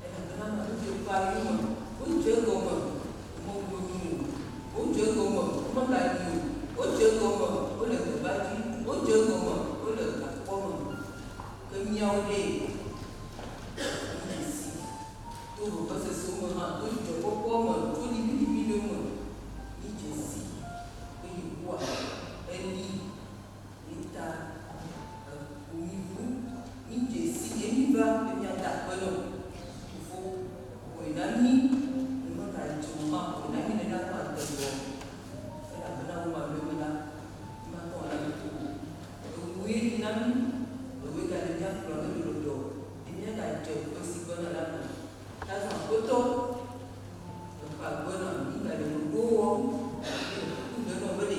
Le xexlẽa me ŋutsu ƒe anyi me, wodze egɔme womebu anyi o, wodze egɔme womele anyi o, wodze egɔme wole gbegba dzi, wodze egɔme wole gakpɔ me. Ke míawo ɖe? Míedze sii to vevesesewo me hã, to dzidzɔkpɔkpɔa me, to liʋĩliʋĩ ɖewo me. Míedze sii be Yehowa eli. Mita eŋu mi ŋu mi dze si ye mi va be mia da akpe nɔ fofo xɔe na mi ne me ga dze o ma xɔe na mi nena ne ma de gbɔ elabena wo ma ɖoe me la mi ma tɔ na mi ko o eŋu ye dze na mi ewoe ga ɖe mia kplɔ ne mi ɖo ɖɔ be mia ga dze ƒe si gbɔna la me ta zã akpetɔ eƒe agbe na mi ga le ɖoɖo wɔm mi le kuku ɖe nɔ be ɖe.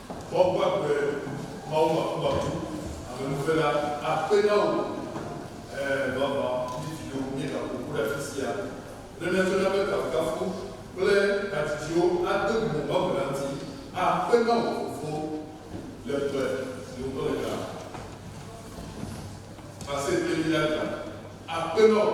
Woabu agbe Mawu makumaku amenuve la akpe na wò. Ẽ, vavã, mí viwo, míegaƒo ƒu ɖe afi sia ne nève na be kafukafu kple hadzidziwo ade bubu Mawu la ŋuti akpe na wò fofo le ƒe si ŋutɔ nègã va se ɖe mía gbea. Akpe na wò.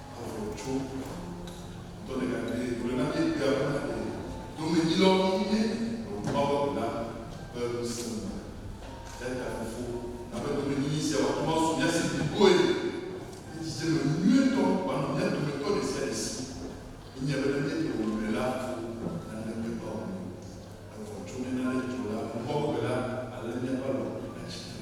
Avɔ tsɔ dɔ le na mi, gblɔ na mi bia be na mi domedzilɔ mi mie ɖo Mawu ɖo na be ŋusẽ me. Eya ta Fofo, na be domenyinyi sia wòato ma su mia si bliboe le dzidzeme nyuietɔ wanɔ mia dometɔ ɖe sia ɖe si. Míenya be ne míeɖe wò nyuie la ko nane meva wò me. Evɔ tso mía nane dzro la ŋgɔ megbe la, alé míaƒe alɔ atsi tre.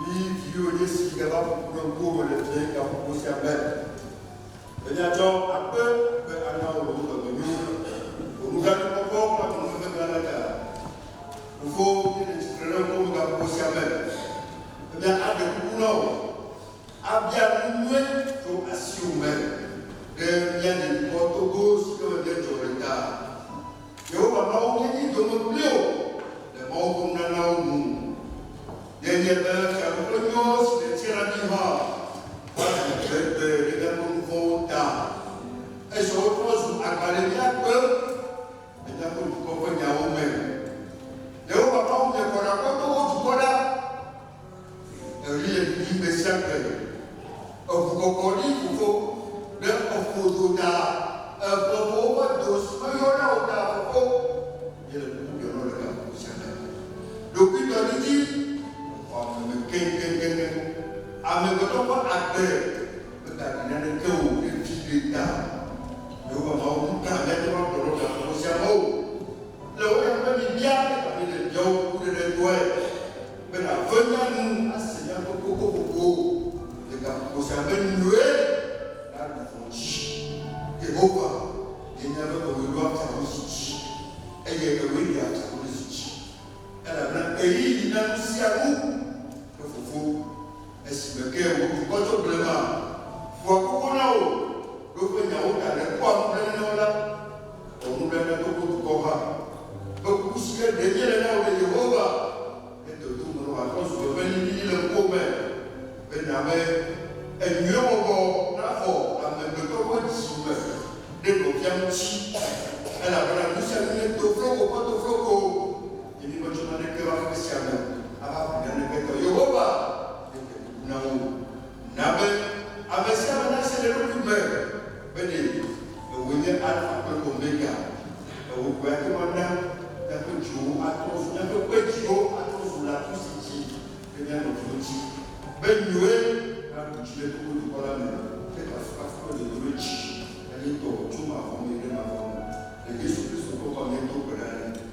Mi viwo Yesu yi ɖava ƒu kple ŋkuwòme le fiẽ gaƒoƒo sia me. Be miatsɔ akpe be ana wò ɖewo dɔ mi wu wò nugãdzikpɔkpɔ ƒe amenuveve gã la ta. Fofo, míele tsitre ɖe ŋkuwòme gaƒoƒo sia me be míaɖe kuku na wò abia nu nyui tso asiwò me ɖe mía dukɔ togo si ke me míedzɔ le ta. Yehowa Mawu menyi dome kpli wò le mawudonunanawo nu o. Nenye be Fiaɖuƒe nyɔɔ si nètia na mí hã va ɖe me gbegbe ɖe míaƒe nu vɔ̃wo ta, ezɔ wo trɔ zu agba ɖe mía gbɔ le míaƒe dukɔ ƒe nyawo me. Yehowa Mawu, mìekɔ ɖe aƒe be wò dukɔ ɖa. Eɣli le ɖiɖim gbe sia gbe. Eŋu kɔkɔ ɖi xoxo ɖe eƒo do ta. Eƒe ƒowo ƒe do si meyɔ na o ta xoxo. Ye le kuku biɔm nɔ ɖeka kuku sia ta. Ɖokuitɔdidi xɔ ame me keŋkeŋkeŋ. Amegbetɔ ƒe agbe megaɖi naneke o veviɖe ta. Yehowa Mawu, nu ka mìate ŋu agblɔ nɔ gaƒoƒo sia me o? Le wò ya be mibia ega be ne míawo kukuɖeɖedɔe be nàve mía nu ase míaƒe kokoƒoƒo le gaƒoƒo sia me nyuie la ɖu vɔ̃ dzi. Yehowa nye míaƒe dɔmedzoeadzadodzi dzi, eye ewɔe ɖi adzadodzi dzi, elabena ɣeyiɣi na nusianu ƒe Fofo. Esime ke wò dukɔ tso blema ƒua koko na wò, ɖo ƒe nyawo ta ɖe kpɔa nublanui na wo la, wɔ nublanui na wò dukɔ hã. Ƒe kuku sie ɖe míele na wò ɖe Yehowa, ne dodom mele wòatrɔ zu eƒe liʋĩli le ŋkuwò me, be nàbe enyuie wɔwɔ naxɔ amegbetɔ ƒe dziwo me ɖe nɔvia ŋuti, elabena nu sia nu nye tofloko ƒe tofloko. Nye vi metsɔ naneke va ƒe sia me ava ƒle naneke tɔ. Yehowa, meɖe kuku na wò, na be ame sia ame nase le eɖokui me be ɖe Èwòe nye Alfa kple Omega. Èwò koe ate ŋu ana míaƒe dziwo atrɔ zu, míaƒe kpe dziwo atrɔ zu latu si dzi ke míanɔ dzo dzi be nyuie naɖu dzi le gbogbo dukɔ la me. Ke kafukafu kple dodododzi nanye tɔwò tso mavɔ me yi ɖe mavɔ me. Le Yesu Kristo ƒe ŋkɔ me míedo gbe ɖa ɖi.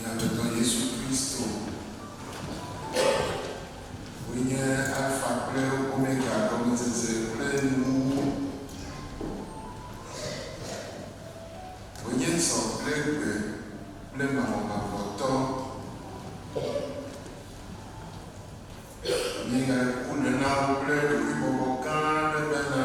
Nyadzɔdzɔ Yesu Kristo wòe nye Alfa kple Omega, gɔmedzedze kple nuwuwu. Wònye zɔ kple gbe kple mavɔmavɔtɔ. Wònye nya ɖeko ɖenawo kple ɖokuibɔbɔ gã aɖe ƒe hã.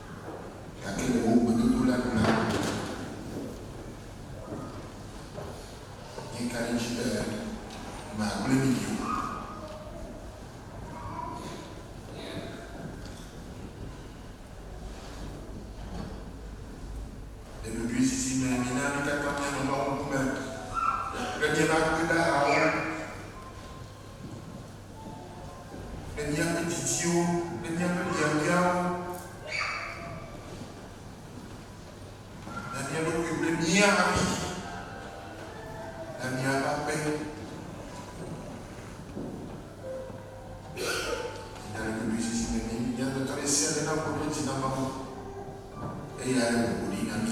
gake le wò gbedodo la nu la, míeka ɖe edzi be màgblẽ mí ɖi o. Le ɖoɖoezizi me, mina mí katã míanɔ Mawu ŋkume kple míaƒe akpedahawo. le míaƒe dzidziwo kple míaƒe biabiawo na mía ɖokui kple mía havi na míaƒe aƒe. Nya ɖe ɖoɖoe sisi me mí mía dometɔ ɖe sia ɖe nakpɔ ɖe dzi na Mawu eye aɖe bubu ɖi na mí.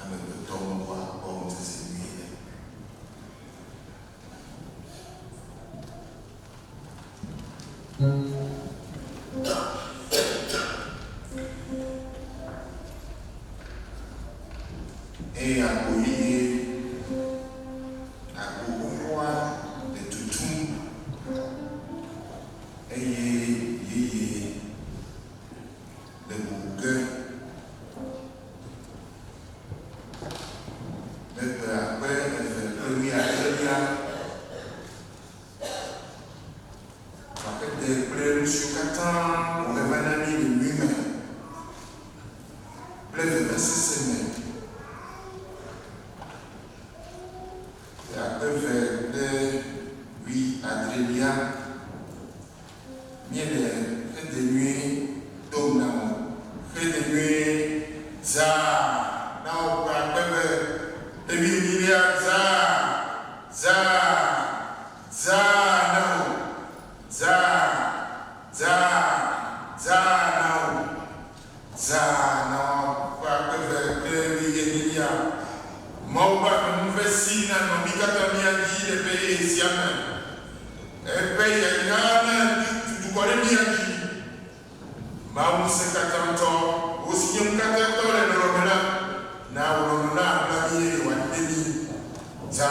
amegbetɔ ŋkua kpɔ ŋutete nyui le. Eya ko yeye agbo xoxoa le tutum eye yeye. Le bubu ke, le gbe akpe eve kple wuiadrelia, akpete kple nusiwo katã wòhe va na mí le nyui me kple vevesese me, le akpe eve kple wuiadrelia, Míele xedze nyui dom na wo. Xedze nyui zãa na wo kple akpe be, Ɖevi enyilia zãa, zãa, zãa na wo, zãa, zãa, zãa na wo. Zã na ƒe akpe eve kple wuienyilia. Mawu ƒe aɖaŋu ƒe si nanɔ mí katã mía dzi le ƒe yeye sia me. Eƒe yayra natu dukɔ ɖe mía dzi. Mawu Ŋusẽkatãtɔ, wò si nye Ŋukatãtɔ le lɔlɔ̃ me la, na wò lɔlɔ̃ naʋla mí eye wòaɖi ɖe mí. Zã.